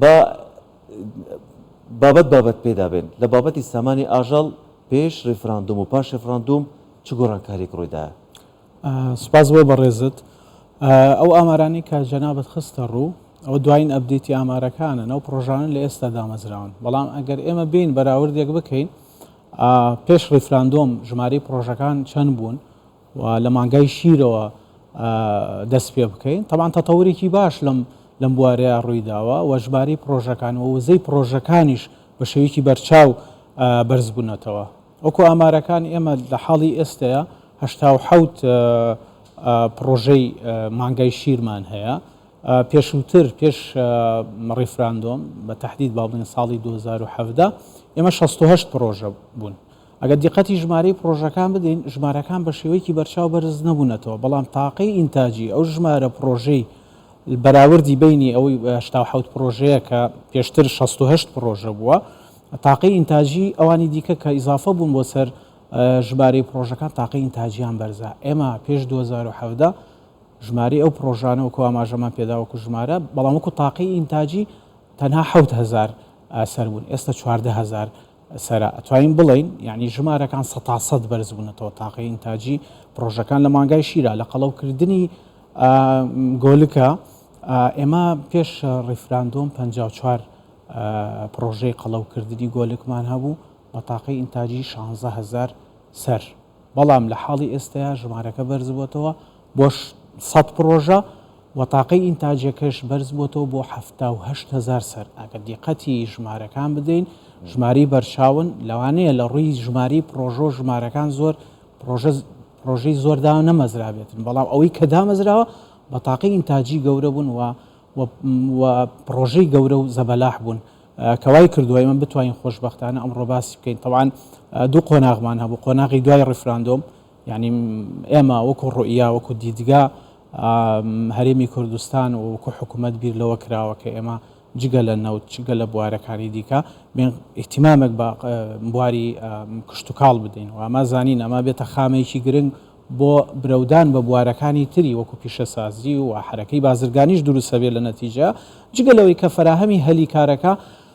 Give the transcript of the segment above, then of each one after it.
با بابەت بابەت پێدا بێن، لە بابەتی سامانی ئاژەڵ پێش ریفراندوم و پاش ریفراندوم چ گۆڕانکاریەک روویدایە؟ سوپاس بۆ بەڕێزت. ئەو ئامارانەی کە جەنابت خستە ڕوو، ئەوە دواین ئەپدەیتی ئامارەکانن، ئەو پڕۆژانە لە ئێستا دامەزراون، بەڵام ئەگەر ئێمە بێین بەراوردێک بکەین، پێش ڕیفراندۆم ژمارەی پڕۆژەکان چەند بوون و لە مانگای شیرەوە دەست پێ بکەین تەبان تەتەورێکی باش لەم لەم بوارەیە ڕوویداوە و ژماری پرۆژەکان و وزەی پرۆژەکانیش بە شێوەیەکی بەرچاو بەرزبوونەتەوە وەکو ئامارەکان ئێمە لە حاڵی ئێستەیە هەشتا و حەوت پرۆژەی مانگای شیرمان هەیە پێشووتر پێش ڕیفراندۆم بە تهدید با بڵێن ساڵی 2017 ئێمە 68 پرۆژە بوون ئەگەر دیقەتی ژمارەی پڕۆژەکان بدەین، ژمارەکان بە شێوەیەکی بەرچاو بەرز نەبوونەتەوە، بەڵام تاقەی ئینتاجی ئەو ژمارە پڕۆژەی بەراوردی بەینی ئەوەی هەشتا و حەوت پڕۆژەیە کە پێشتر شەست و هەشت پڕۆژە بووە، تاقەی ئینتاجی ئەوانی دیکە کە ئیزافە بوون بۆ سەر ژمارەی پڕۆژەکان تاقەی ئینتاجیان بەرزە. ئێمە پێش دوو هەزار و حەڤدە ژمارەی ئەو پڕۆژانە وەکو ئاماژەمان پێدا وەکو ژمارە، بەڵام وەکو تاقەی ئینتاجی تەنها حەوت هەزار سەر بوون، ئێستا چواردە هەزار سەرە ئەتوانین بڵێین یانی ژمارەکان سەتا سەد بەرز بوونەتەوە تاقەی ئینتاجی پڕۆژەکان لە مانگای شیرا لە قەڵەو کردنی گۆلکە ئێمە پێش ڕیفراندۆم 54 پڕۆژەی قەڵەو کردنی گۆلکمان هەبوو بە تاقەی ئینتاجی 16 هزار سەر بەڵام لە حاڵی ئێستەیە ژمارەکە بەرز بووەتەوە بۆش سەد پڕۆژە وە تاقەی ئینتاجەکەش بەرز بۆتەوە بۆ حەفتا و هەشت هەزار سەر ئەگەر دیقەتی ژمارەکان بدەین ژمارەی بەرچاون لەوانەیە لە ڕووی ژماری پڕۆژۆ ژمارەکان زۆر پڕۆژە پڕۆژەی زۆر دا نەمەزرابێتن بەڵام ئەوەی کە دامەزراوە بە تاقەی ئینتاجی گەورە بوون وە وە وە پڕۆژەی گەورە و زەبەلاح بوون کە وای کردوە ئێمە بتوانین خۆشبەختانە ئەمڕۆ باسی بکەین تەبعەن دوو قۆناغمان هەبوو قۆناغی دوای ڕیفراندۆم یانی ئێمە وەکو ڕوئیا، وەکو دیدگا هەرێمی کوردستان و وەکو حکومەت بیر لەوە کراوە کە ئێمە جگە لە نەوت جگە لە بوارەکانی دیکە بێن ئیهتیمامێک بە بواری کشتوکاڵ بدەین و ئەمە زانین ئەمە بێتە خامەیەکی گرنگ بۆ برەودان بە بوارەکانی تری وەکو پیشەسازی و حەرەکەی بازرگانیش دروستە بێت لە نەتیجە جگە لەوەی کە فەراهەمی هەلی کارەکە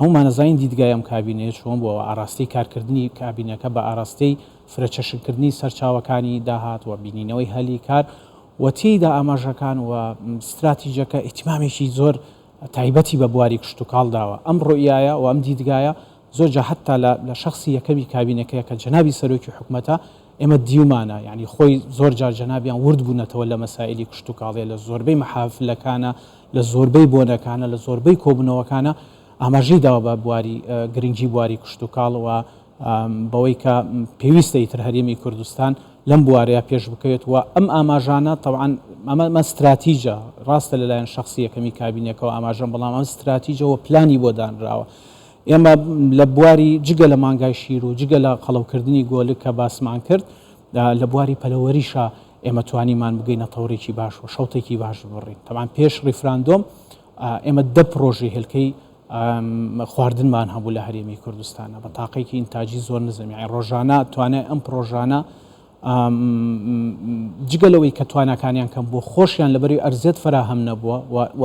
هەموومان ئەزانین دیدگای ئەم کابینەیە چۆن بووە و ئاراستەی کارکردنی کابینەکە بە ئاراستەی فرەچەشنکردنی سەرچاوەکانی داهات و بینینەوەی هەلی کار و تێیدا ئاماژەکان و ستراتیجەکە ئیهتیمامێکی زۆر تایبەتی بە بواری کشتوکاڵ داوە. ئەم ڕوئیایە و ئەم دیدگایە زۆر جا هەتا لە لە شەخسی یەکەمی کابینەکەیە کە جەنابی سەرۆکی حکومەتە ئێمە دیومانە یانی خۆی زۆر جار جەنابیان ورد بوونەتەوە لە مەسائیلی کشتوکاڵێ لە زۆربەی مەحافلەکانا لە زۆربەی بۆنەکانە، لە زۆربەی کۆبوونەوەکانە ئاماژەی داوە بە بواری گرنگی بواری کشتوکاڵ و بەوەی کە پێویستە ئیتر هەرێمی کوردستان لەم بوارەیە پێش بکەوێت و ئەم ئاماژانە تەوعان ئەمە ستراتیجە ڕاستە لەلایەن شخصی یەکەمی کابینەکەەوە ئاماژەم بەڵام ئەم ستراتیجەوە پلانی بۆ دانراوە ئێمە لە بواری جگە لە مانگای شیر و جگە لە قەڵەوکردنی گۆلک کە باسمان کرد لە بواری پەلەوەریشە ئێمە توانیمان بگەینە تەوڕێکی باش و شەوتێکی باش ببڕین. تەبعەن پێش ڕیفراندۆم ئێمە دە پڕۆژەی هێلکەی خواردنمان هەبوو لە هەرێمی کوردستانە بە تاقێکی ئینتاجی زۆر نزم یعنی ڕۆژانە توانای ئەم پرۆژانە جگە لەوەی کە تواناکانیان کەم بۆ خۆشیان لەبەری ئەرزێت فراهەم نەبووە و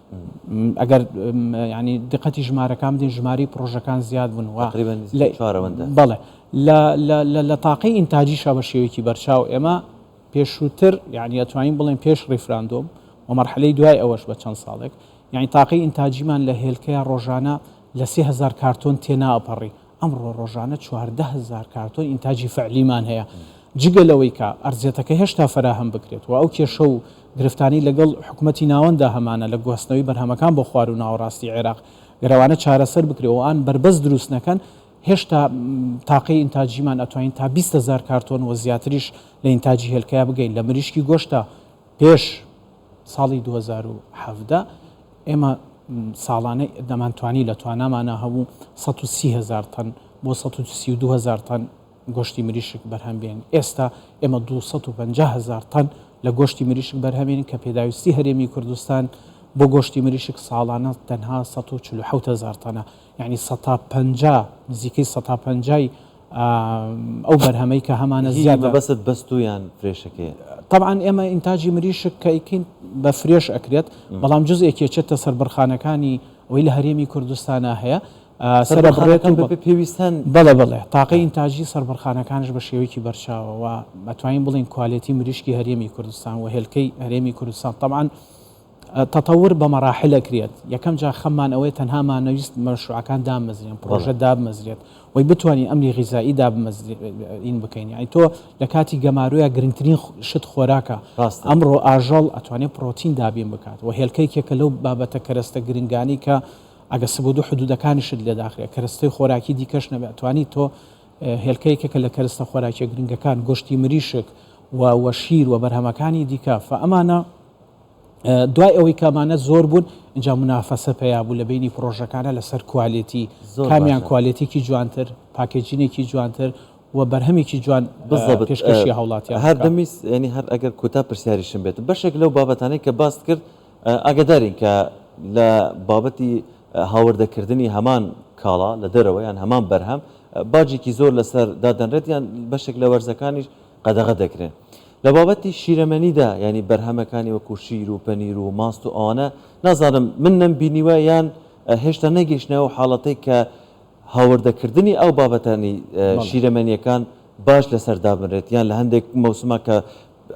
ئەگەر یعنی دقەتی ژمارەکان بدەین ژماری پرۆژەکان زیاد بوون و بەڵێ لە تاقی ئینتاجیشە بە شێوەیەکی بەرچاو ئێمە پێشووتر یعنی ئەتوانین بڵێن پێش ڕیفراندۆم و مەرحلەی دوای ئەوەش بە چەند ساڵێک یعنی تاقی ئینتاجیمان لە هێلکەیە ڕۆژانە لە سهزار کارتۆن تێناپەڕی ئەمڕۆ ڕۆژانە چواردە هەزار کارتۆن ئینتاجی فەعلیمان هەیە، جگە لەوەی کە ئەرزیەتەکە هێشتا فەراهەم بکرێت و ئەو کێشە و گرفتانەی لەگەڵ حکومەتی ناوەنددا هەمانە لە گواستنەوەی بەرهەمەکان بۆ خواروو ناوەڕاستی عێراق گەروانە چارەسەر بکرێ و ئان بەربەست دروست نەکەن هێشتا تاقەی ئینتاجیمان ئەتوانین تا بیست هەزار کارتۆن و زیاتریش لە ئینتاجی هێلکەیا بگەین لە مریشکی گۆشتا پێش ساڵی دوو هەزار و حەڤدە ئێمە ساڵانە دەمانتوانی لە توانامانە هەبوو سەد و سی هەزار تەن بۆ سەد و سی و دوو هەزار تەن گۆشتی مریشک بەرهەم بێنین، ئێستا ئێمە دوو سەد و پەنجا هەزار تەن لە گۆشتی مریشک بەرهەمێنین کە پێداویستی هەرێمی کوردستان بۆ گۆشتی مریشک ساڵانە تەنها سەد و چل و حەوت هەزار تەنە. یانی سەتا پەنجا نزیکەی سەتا پەنجای ئەو بەرهەمەی کە هەمانە زیادە. هی مەبەستت بەستوو یان فرێشەکەیە؟ تەبعەن ئێمە ئینتاجی مریشک کە ئەیکەین بە فرێش ئەکرێت بەڵام جزئێکی ئەچێتە سەربڕخانەکانی ئەوەی لە هەرێمی کوردستانا هەیە سەربڕێت و پێویستن بەڵێ بەڵێ تاقەی ئینتاجی سەربڕخانەکانش بە شێوەیەکی بەرچاوەوە ئەتوانین بڵێین کوالێتی مریشکی هەرێمی کوردستان و هێلکەی هەرێمی کوردستان تەبعەن تەتەور بە مەڕاحل ئەکرێت، یەکەم جار خەممان ئەوەیە تەنها مانەویست مەشروعەکان داممەزرێن، پڕۆژە دابمەزرێت وەی بتوانین ئەمنی غیزائی دابمەزرێن بکەین، یانی تۆ لە کاتی گەمارۆیا گرنگترین شت خۆراکە، ئەمڕۆ ئاژەڵ ئەتوانێت پڕۆتین دابین بکات و هێلکە یەکێکە لەو بابەتە کەرەستە گرنگانەی کە ئەگەر سبودو حدودەکانیشت لێ داخرێت کەرەستەی خۆراکی دیکەش نەبێت ئەتوانی تۆ هێلکە یەکێکە لە کەرەستە خۆراکیە گرنگەکان گۆشتی مریشک و و شیر و بەرهەمەکانی دیکە فە ئەمانە دوای ئەوەی کە ئەمانە زۆر بوون ئینجا منافەسە پەیا بوو لە بینی پرۆژەکانە لەسەر کوالێتی کامیان کوالێتێکی جوانتر پاکێجینێکی جوانتر و بەرهەمێکی جوان پێشکەشی هاوڵاتیان هەر دەمیست ینی هەر ئەگەر کوتا پرسیاریشم بێت بەشێک لەو بابەتانەی کە باست کرد ئاگدارین کە لە بابەتی هاوردەکردنی هەمان کاڵا لە دەرەوە یان هەمان بەرهەم باجێکی زۆر لەسەر دادەنرێت یان بەشێک لە وەرزەکانیش قەدەغە دەکرێن. لە بابەتی شیرەمەنیدا یانی بەرهەمەکانی وەکو شیر و پەنیر و ماست و ئەوانە نازانم من نەمبینیوە یان هێشتا نەگەیشتنە ئەو حاڵەتەی کە هاوردەکردنی ئەو بابەتانی شیرەمەنیەکان باش لەسەر دابنرێت یان لە هەندێک مەوسما کە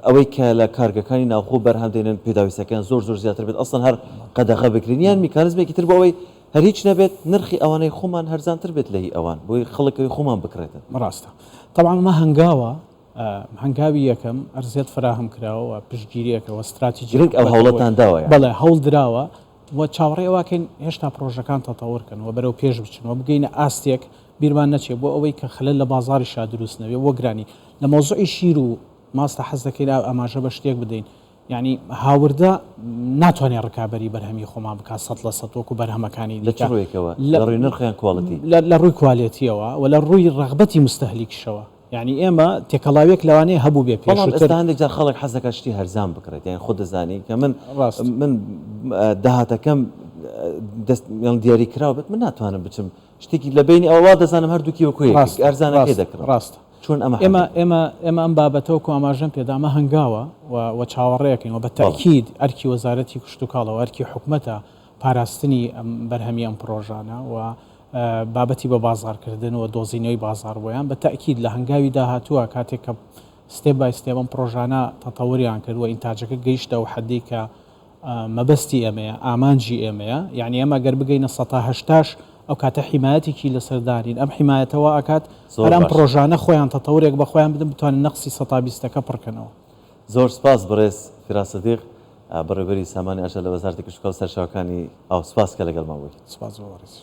ئەوەی کە لە کارگەکانی ناوخۆ بەرهەم دێنن پێداویستەکەیان زۆر زۆر زیاتر بێت ئەسڵەن هەر قەدەغە بکرێن یان میکانزمێکی تر بۆ ئەوەی هەر هیچ نەبێت نرخی ئەوانەی خومان هەرزانتر بێت لە هی ئەوان بۆی خڵکەوی خومان بکڕێتن. ڕاستە تەبعەن ئەمە هەنگاوە هەنگاوی یەکەم ئەرزێت فەراهەم کراوە و پشتگیریەکە و ستراتیجی گرنگ ئەو هەوڵەتان داوە یانی. بەڵێ هەوڵ دراوە و چاوەڕێی ئەوەکەین هێشتا پڕۆژەکان تەتەوەر کەن و بەرەو پێش بچن و بگەینە ئاستێک بیرمان نەچێ بۆ ئەوەی کە خەلەل لە بازاریشا دروست نەبێ و گرانی لە مەوزوعی شیر و ماستە حەز دەکەین ئاماژە بە شتێک بدەین یانی هاوردە ناتوانێت ڕکابەری بەرهەمی خۆمان بکات سەد لە سەد وەکو بەرهەمەکانی دیکە. لە چ ڕوویەکەوە؟ لە ڕووی نرخ یان کوالیتی؟ لە ڕووی کوالێتییەوە و لە ڕووی ڕەغبەتی موستەهلیکیشەوە. یانی ئێمە تێکەڵاوییەک لەوانەیە هەبووبێت پێشووتر. بەڵام ئێستا هەندێک جار خەڵک حەز دەکات شتی هەرزان بکڕێت. یانی خۆت دەزانی کە من من داهاتەکەم دەست یان دیاریکراو بێت من ناتوانم بچم شتێکی لە بەینی ئەوە وا دەزانم هەردووکی وەکوو یەک ڕاستە ئەرزانەکەی ڕاستە دەکڕم ڕاستە چۆن ئەمە حەل ئێمە دەکەم ئێمە ئێمە ئەم بابەتە وەکوو ئاماژەم پێدا ئەمە هەنگاوە و و چاوەڕێکەین و بە بەڵێ تەئکید ئەرکی وەزارەتی کشتوکاڵە و ئەرکی حکومەتە پاراستنی ئەم بەرهەمی ئەم پڕۆژانە و بابەتی بە بازاڕکردن و دۆزینەوەی بازاڕ بۆیان بە تەئکید لە هەنگاوی داهاتووە کاتێک کە ستێپ بای ستێپ ئەم پڕۆژانە تەتەوریان کرد و ئینتاجەکە گەیشتە ئەو حەدەی کە مەبەستی ئێمەیە، ئامانجی ئێمەیە، یەعنی ئێمە گەر بگەینە سەتا هەشتاش ئەو کاتە حیمایەتێکی لەسەر دانین، ئەم حیمایەتە وا ئەکات هەر ئەم پڕۆژانە خۆیان تەتەورێک بە خۆیان بدەن بتوانن نەقسی سەتا بیستەکە پڕ کەنەوە. زۆر سپاس بەڕێز فیراس سدیق، بەڕێوبەری سامانی ئەژە لە وەزارەتی کشتوکاڵ و سەرچاوەکانی ئاو، سپاس کە لەگەڵمان بوویت. سپاس بۆ بەڕێزیشت.